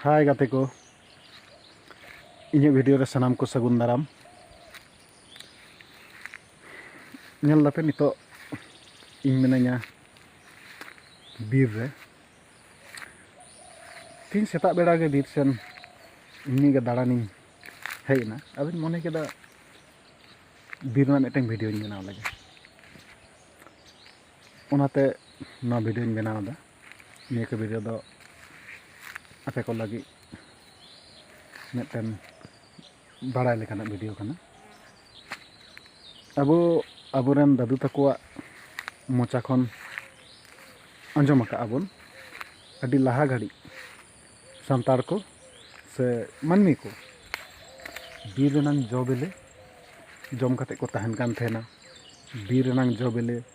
ᱦᱟᱭ ᱜᱟᱛᱮ ᱠᱚ ᱤᱧᱟᱹᱜ ᱵᱷᱤᱰᱤᱭᱳ ᱨᱮ ᱥᱟᱱᱟᱢ ᱠᱚ ᱥᱟᱹᱜᱩᱱ ᱫᱟᱨᱟᱢ ᱧᱮᱞ ᱫᱟᱯᱮ ᱱᱤᱛᱚᱜ ᱤᱧ ᱢᱤᱱᱟᱹᱧᱟ ᱵᱤᱨ ᱨᱮ ᱛᱤᱦᱤᱧ ᱥᱮᱛᱟᱜ ᱵᱮᱲᱟ ᱜᱮ ᱵᱤᱨ ᱥᱮᱱ ᱮᱢᱱᱤ ᱜᱮ ᱫᱟᱬᱟᱱᱤᱧ ᱦᱮᱡ ᱮᱱᱟ ᱟᱫᱚᱧ ᱢᱚᱱᱮ ᱠᱮᱫᱟ ᱵᱤᱨ ᱨᱮᱱᱟᱜ ᱢᱤᱫᱴᱮᱱ ᱵᱷᱤᱰᱤᱭᱳᱧ ᱵᱮᱱᱟᱣ ᱞᱮᱜᱮ ᱚᱱᱟᱛᱮ ᱱᱚᱣᱟ ᱵᱷᱤᱰᱤᱭᱳᱧ ᱵᱮᱱᱟᱣ ᱮᱫᱟ ᱱᱤᱭᱟᱹ ᱠᱚ ᱵᱷᱤᱰᱤᱭᱳ ᱫᱚ ᱟᱯᱮ ᱠᱚ ᱞᱟᱹᱜᱤᱫ ᱢᱤᱫᱴᱮᱱ ᱵᱟᱲᱟᱭ ᱞᱮᱠᱟᱱᱟᱜ ᱵᱷᱤᱰᱤᱭᱳ ᱠᱟᱱᱟ ᱟᱵᱚ ᱟᱵᱚᱨᱮᱱ ᱫᱟᱫᱩ ᱛᱟᱠᱚᱣᱟᱜ ᱢᱚᱪᱟ ᱠᱷᱚᱱ ᱟᱸᱡᱚᱢ ᱟᱠᱟᱫᱼᱟ ᱵᱚᱱ ᱟᱹᱰᱤ ᱞᱟᱦᱟ ᱜᱷᱟᱹᱲᱤᱡ ᱥᱟᱱᱛᱟᱲ ᱠᱚ ᱥᱮ ᱢᱟᱹᱱᱢᱤ ᱠᱚ ᱵᱤᱨ ᱨᱮᱱᱟᱝ ᱡᱚ ᱵᱤᱞᱤ ᱡᱚᱢ ᱠᱟᱛᱮᱫ ᱠᱚ ᱛᱟᱦᱮᱱ ᱠᱟᱱ ᱛᱟᱦᱮᱱᱟ ᱵᱤᱨ ᱨᱮᱱᱟᱝ ᱡᱚ ᱵᱤᱞᱤ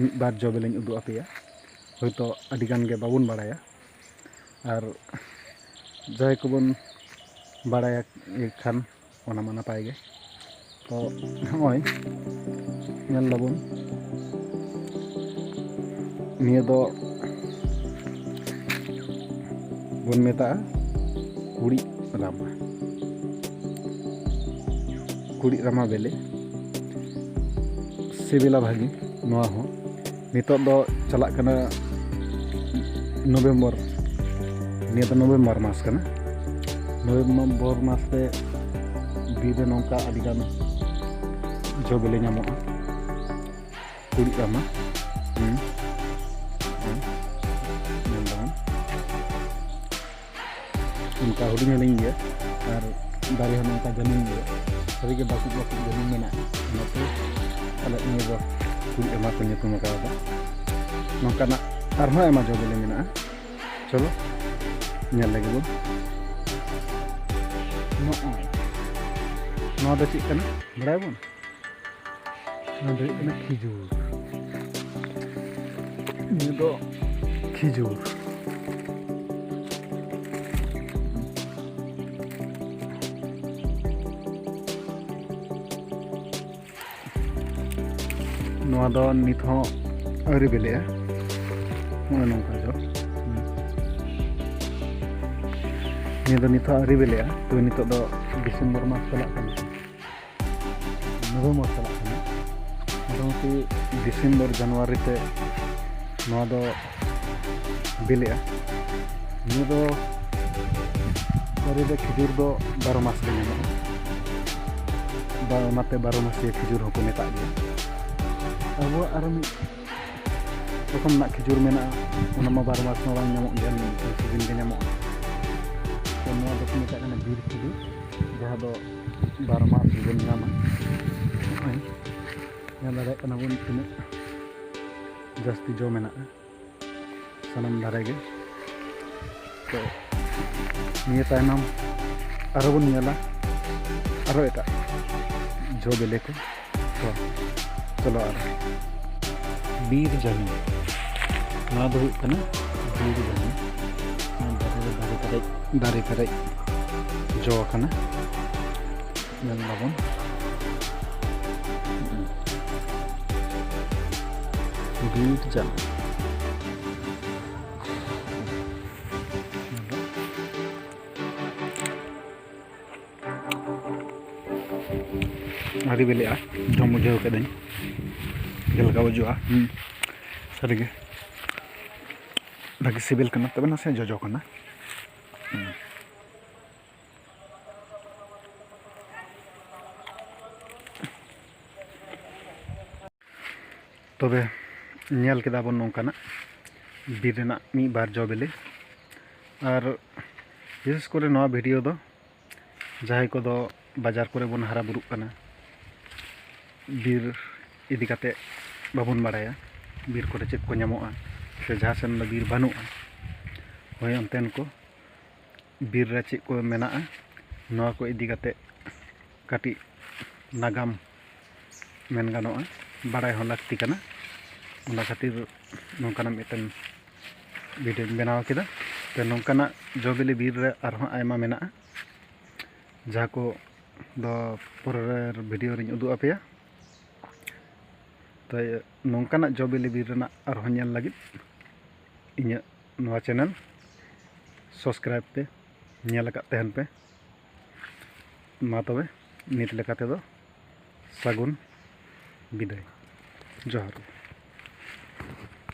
ᱢᱤᱫ ᱵᱟᱨ ᱡᱚ ᱵᱤᱞᱤᱧ ᱩᱫᱩᱜ ᱟᱯᱮᱭᱟ ᱦᱳᱭᱛᱳ ᱟᱹᱰᱤ ᱜᱟᱱ ᱜᱮ ᱵᱟᱵᱚᱱ ᱵᱟᱲᱟᱭᱟ ᱟᱨ ᱡᱟᱦᱟᱸᱭ ᱠᱚᱵᱚᱱ ᱵᱟᱲᱟᱭ ᱠᱷᱟᱱ ᱚᱱᱟ ᱢᱟ ᱱᱟᱯᱟᱭ ᱜᱮ ᱛᱚ ᱱᱚᱜᱼᱚᱭ ᱧᱮᱞ ᱫᱟᱵᱚᱱ ᱱᱤᱭᱟᱹ ᱫᱚ ᱵᱚᱱ ᱢᱮᱛᱟᱜᱼᱟ ᱠᱩᱲᱤᱫ ᱨᱟᱢᱟ ᱠᱩᱲᱤᱫ ᱨᱟᱢᱟ ᱵᱮᱞᱮ ᱥᱤᱵᱤᱞᱟ ᱵᱷᱟᱹᱜᱤ ᱱᱚᱣᱟ ᱦᱚᱸ ᱱᱤᱛᱚᱜ ᱫᱚ ᱪᱟᱞᱟᱜ ᱠᱟᱱᱟ ᱱᱚᱵᱷᱮᱢᱵᱚᱨ ᱱᱤᱭᱟᱹ ᱫᱚ ᱱᱚᱵᱷᱮᱢᱵᱚᱨ ᱢᱟᱥ ᱠᱟᱱᱟ ᱱᱚᱵᱷᱮᱢᱵᱚᱨ ᱢᱟᱥ ᱨᱮ ᱵᱤᱨ ᱨᱮ ᱱᱚᱝᱠᱟ ᱟᱹᱰᱤᱜᱟᱱ ᱡᱚ ᱵᱮᱞᱮ ᱧᱟᱢᱚᱜᱼᱟ ᱠᱩᱲᱤᱫ ᱨᱟᱢᱟ ᱚᱱᱠᱟ ᱦᱩᱰᱤᱧ ᱦᱩᱰᱤᱧ ᱜᱮ ᱟᱨ ᱫᱟᱨᱮ ᱦᱚᱸ ᱱᱚᱝᱠᱟ ᱡᱟᱹᱱᱩᱢ ᱜᱮ ᱥᱟᱹᱨᱤᱜᱮ ᱵᱟᱹᱠᱩᱵ ᱵᱟᱹᱠᱩᱵ ᱡᱟᱹᱱᱩᱢ ᱢᱮᱱᱟᱜᱼᱟ ᱚᱱᱟᱛᱮ ᱟᱞᱮ ᱱᱤᱭᱟᱹ ᱫᱚ ᱠᱩᱞ ᱮᱢᱟ ᱠᱚ ᱧᱩᱛᱩᱢ ᱟᱠᱟᱫᱟ ᱱᱚᱝᱠᱟᱱᱟᱜ ᱟᱨᱦᱚᱸ ᱟᱭᱢᱟ ᱡᱚ ᱵᱤᱞᱤ ᱢᱮᱱᱟᱜᱼᱟ ᱪᱚᱞᱚ ᱧᱮᱞ ᱞᱟᱹᱜᱤᱫ ᱵᱚᱱ ᱱᱚᱜᱼᱚᱭ ᱱᱚᱣᱟ ᱫᱚ ᱪᱮᱫ ᱠᱟᱱᱟ ᱵᱟᱲᱟᱭᱟᱵᱚᱱ ᱱᱚᱣᱟ ᱫᱚ ᱦᱩᱭᱩᱜ ᱠᱟᱱᱟ ᱠᱷᱤᱡᱩᱨ ᱱᱤᱭᱟᱹ ᱫᱚ ᱠᱷᱤᱡᱩᱨ ᱱᱚᱣᱟ ᱫᱚ ᱱᱤᱛ ᱦᱚᱸ ᱟᱹᱣᱨᱤ ᱵᱤᱞᱤᱜᱼᱟ ᱱᱚᱜᱼᱚᱭ ᱱᱚᱝᱠᱟ ᱡᱚ ᱱᱤᱭᱟᱹ ᱫᱚ ᱱᱤᱛ ᱦᱚᱸ ᱟᱹᱣᱨᱤ ᱵᱤᱞᱤᱜᱼᱟ ᱛᱚ ᱱᱤᱛᱚᱜ ᱫᱚ ᱰᱤᱥᱮᱢᱵᱚᱨ ᱢᱟᱥ ᱪᱟᱞᱟᱜ ᱠᱟᱱᱟ ᱱᱚᱵᱷᱮᱢᱵᱚᱨ ᱪᱟᱞᱟᱜ ᱠᱟᱱᱟ ᱢᱚᱴᱟᱢᱩᱴᱤ ᱰᱤᱥᱮᱢᱵᱚᱨ ᱡᱟᱱᱩᱣᱟᱨᱤ ᱛᱮ ᱱᱚᱣᱟ ᱫᱚ ᱵᱤᱞᱤᱜᱼᱟ ᱱᱤᱭᱟᱹ ᱫᱚ ᱫᱟᱨᱮ ᱨᱮ ᱠᱷᱤᱡᱩᱨ ᱫᱚ ᱵᱟᱨᱚ ᱢᱟᱥ ᱜᱮ ᱧᱟᱢᱚᱜᱼᱟ ᱵᱟ ᱚᱱᱟᱛᱮ ᱵᱟᱨᱚ ᱢᱟᱥᱤᱭᱟᱹ ᱠᱷᱤᱡᱩᱨ ᱦᱚᱸᱠᱚ ᱢᱮᱛᱟᱜ ᱜᱮᱭᱟ ᱟᱵᱚᱣᱟᱜ ᱟᱨᱚ ᱢᱤᱫ ᱨᱚᱠᱚᱢ ᱨᱮᱱᱟᱜ ᱠᱷᱤᱡᱩᱨ ᱢᱮᱱᱟᱜᱼᱟ ᱚᱱᱟ ᱢᱟ ᱵᱟᱨᱚ ᱢᱟᱥ ᱢᱟ ᱵᱟᱝ ᱧᱟᱢᱚᱜ ᱜᱮᱭᱟ ᱢᱤᱫᱴᱟᱝ ᱥᱤᱡᱤᱱ ᱜᱮ ᱧᱟᱢᱚᱜᱼᱟ ᱛᱚ ᱱᱚᱣᱟ ᱫᱚᱠᱚ ᱢᱮᱛᱟᱜ ᱠᱟᱱᱟ ᱵᱤᱨ ᱠᱷᱤᱡᱩᱨ ᱡᱟᱦᱟᱸ ᱫᱚ ᱵᱟᱨ ᱢᱟᱥ ᱜᱮᱵᱚᱱ ᱧᱟᱢᱟ ᱱᱚᱜᱼᱚᱭ ᱧᱮᱞ ᱫᱟᱲᱮᱭᱟᱜ ᱠᱟᱱᱟ ᱵᱚᱱ ᱛᱤᱱᱟᱹᱜ ᱡᱟᱹᱥᱛᱤ ᱡᱚ ᱢᱮᱱᱟᱜᱼᱟ ᱥᱟᱱᱟᱢ ᱫᱟᱨᱮ ᱜᱮ ᱛᱚ ᱱᱤᱭᱟᱹ ᱛᱟᱭᱱᱚᱢ ᱟᱨᱦᱚᱸ ᱵᱚᱱ ᱧᱮᱞᱟ ᱟᱨᱦᱚᱸ ᱮᱴᱟᱜ ᱡᱚ ᱵᱤᱞᱤ ᱠᱚ ᱪᱚᱞᱚ ᱟᱨ ᱵᱤᱨ ᱡᱟᱹᱱᱤ ᱱᱚᱣᱟ ᱫᱚ ᱦᱩᱭᱩᱜ ᱠᱟᱱᱟ ᱵᱤᱨ ᱡᱟᱹᱱᱤ ᱫᱟᱨᱮ ᱨᱮ ᱫᱟᱨᱮ ᱯᱮᱨᱮᱡ ᱫᱟᱨᱮ ᱯᱮᱨᱮᱡ ᱡᱚ ᱟᱠᱟᱱᱟ ᱧᱮᱞ ᱫᱟᱵᱚᱱ ᱵᱤᱨ ᱡᱟᱹᱱᱤ ᱟᱹᱰᱤ ᱵᱤᱞᱤᱜᱼᱟ ᱡᱚᱢ ᱵᱩᱡᱷᱟᱹᱣ ᱠᱤᱫᱟᱹᱧ ᱪᱮᱫ ᱞᱮᱠᱟ ᱵᱩᱡᱩᱜᱼᱟ ᱥᱟᱹᱨᱤᱜᱮ ᱵᱷᱟᱹᱜᱤ ᱥᱤᱵᱤᱞ ᱠᱟᱱᱟ ᱛᱚᱵᱮ ᱱᱟᱥᱮ ᱡᱚᱡᱚ ᱠᱟᱱᱟ ᱛᱚᱵᱮ ᱧᱮᱞ ᱠᱮᱫᱟ ᱵᱚᱱ ᱱᱚᱝᱠᱟᱱᱟᱜ ᱵᱤᱨ ᱨᱮᱱᱟᱜ ᱢᱤᱫ ᱵᱟᱨ ᱡᱚ ᱵᱤᱞᱤ ᱟᱨ ᱵᱤᱥᱮᱥ ᱠᱚᱨᱮ ᱱᱚᱣᱟ ᱵᱷᱤᱰᱤᱭᱳ ᱫᱚ ᱡᱟᱦᱟᱸᱭ ᱠᱚᱫᱚ ᱵᱟᱡᱟᱨ ᱠᱚᱨᱮ ᱵᱚᱱ ᱦᱟᱨᱟ ᱵᱩᱨᱩᱜ ᱠᱟᱱᱟ ᱵᱤᱨ ᱤᱫᱤ ᱠᱟᱛᱮ ᱵᱟᱵᱚᱱ ᱵᱟᱲᱟᱭᱟ ᱵᱤᱨ ᱠᱚᱨᱮ ᱪᱮᱫ ᱠᱚ ᱧᱟᱢᱚᱜᱼᱟ ᱥᱮ ᱡᱟᱦᱟᱸ ᱥᱮᱱ ᱫᱚ ᱵᱤᱨ ᱵᱟᱹᱱᱩᱜᱼᱟ ᱦᱳᱭ ᱚᱱᱛᱮᱱ ᱠᱚ ᱵᱤᱨ ᱨᱮ ᱪᱮᱫ ᱠᱚ ᱢᱮᱱᱟᱜᱼᱟ ᱱᱚᱣᱟ ᱠᱚ ᱤᱫᱤ ᱠᱟᱛᱮ ᱠᱟᱹᱴᱤᱡ ᱱᱟᱜᱟᱢ ᱢᱮᱱ ᱜᱟᱱᱚᱜᱼᱟ ᱵᱟᱲᱟᱭ ᱦᱚᱸ ᱞᱟᱹᱠᱛᱤ ᱠᱟᱱᱟ ᱚᱱᱟ ᱠᱷᱟᱹᱛᱤᱨ ᱱᱚᱝᱠᱟᱱᱟᱜ ᱢᱤᱫᱴᱮᱱ ᱵᱷᱤᱰᱭᱳᱧ ᱵᱮᱱᱟᱣ ᱠᱮᱫᱟ ᱛᱚ ᱱᱚᱝᱠᱟᱱᱟᱜ ᱡᱚ ᱵᱤᱞᱤ ᱵᱤᱨ ᱨᱮ ᱟᱨᱦᱚᱸ ᱟᱭᱢᱟ ᱢᱮᱱᱟᱜᱼᱟ ᱡᱟᱦᱟᱸ ᱠᱚ ᱫᱚ ᱯᱚᱨᱮᱨ ᱵᱷᱤᱰᱭᱳ ᱨᱤᱧ ᱩᱫᱩᱜ ᱟᱯᱮᱭᱟ ᱛᱚ ᱱᱚᱝᱠᱟᱱᱟᱜ ᱡᱚ ᱵᱤᱞᱤ ᱵᱤᱨ ᱨᱮᱱᱟᱜ ᱟᱨᱦᱚᱸ ᱧᱮᱞ ᱞᱟᱹᱜᱤᱫ ᱤᱧᱟᱹᱜ ᱱᱚᱣᱟ ᱪᱮᱱᱮᱞ ᱥᱟᱵᱥᱠᱨᱟᱭᱤᱵᱽ ᱯᱮ ᱧᱮᱞ ᱟᱠᱟᱫ ᱛᱟᱦᱮᱱ ᱯᱮ ᱢᱟ ᱛᱚᱵᱮ ᱱᱤᱛ ᱞᱮᱠᱟ ᱛᱮᱫᱚ ᱥᱟᱹᱜᱩᱱ ᱵᱤᱫᱟᱹᱭ ᱡᱚᱦᱟᱨ ᱜᱮ